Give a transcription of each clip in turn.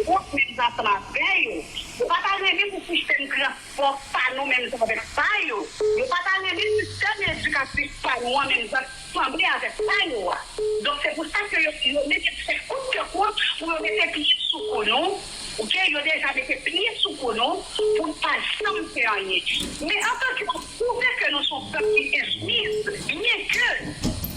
Fok nèg sa frape yo. Yo pa ta renmen pou sistèm transpò pa nou menm jan avèk pa yo. Yo pa ta renmen sistèm edikatif pa nou an menm jan sanble avèk pa yo a. Donk se pou sa ke yo yo mete fè kout ke kout pou yo mete pye sou kou nou. Ok yo deja mete pye sou kou nou pou n pa janm fè anyen. Men antan ke nou pwouve ke nou son pèp ki enstwi byen ke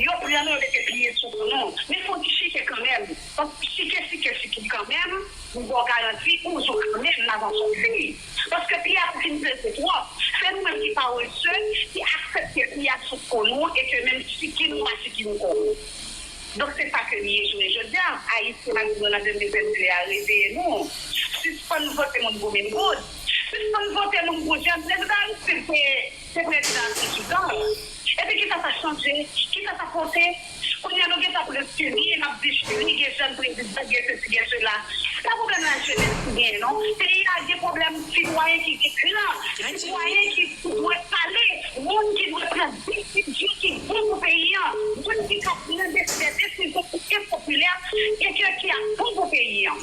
yo pran nou yo mete pye sou kou nou men fok n chite kanmenm. Bon chike chike chike kanmenm m baw garanti ou zo kanmenm nan zan son fi paske pi a fin peze twòp se nou menm ki parese ki aksepte pi a sou ko nou e ke menm chiki nou pa chiki nou ko nou donk se sa ke li ye jounen jodia ayiti malgre nou nan 2022 a reveye nou sispann vote moun pou min goud sispann vote moun pou jan nèg d'aristid te Se prezidan an ki dan l. Epi kisa sa chanje? Kisa sa pote? Kounye a nou gentan ap respire e n ap di jli gen jèn prezidan, gen sesi gen sela. Se pa pwoblèm lajenès ki genyen non. Peyi a gen pwoblèm sitwayen ki gen klan, sitwayen ki dwe pale, moun ki dwe pran desizyon ki bon pou peyi an, moun ki ka pran de vrè desizyon ki enpopilè e ke ki ap bon pou peyi an.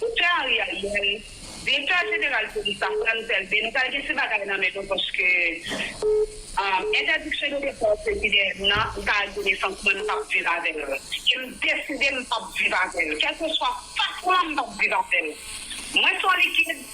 Doktè Ari Ariel, Direktè Jeneral Polis la, Frantz Elbé, nou pral gen ti bagay nan men nou paske entèdiksyon de depòt ke ki dèyè nou nan, m ka al gade san kouman nou pap viv avè l. E m deside m pap viv avè l. Kèlkeswa fason an m pap viv avè l. Mwen se yon likid.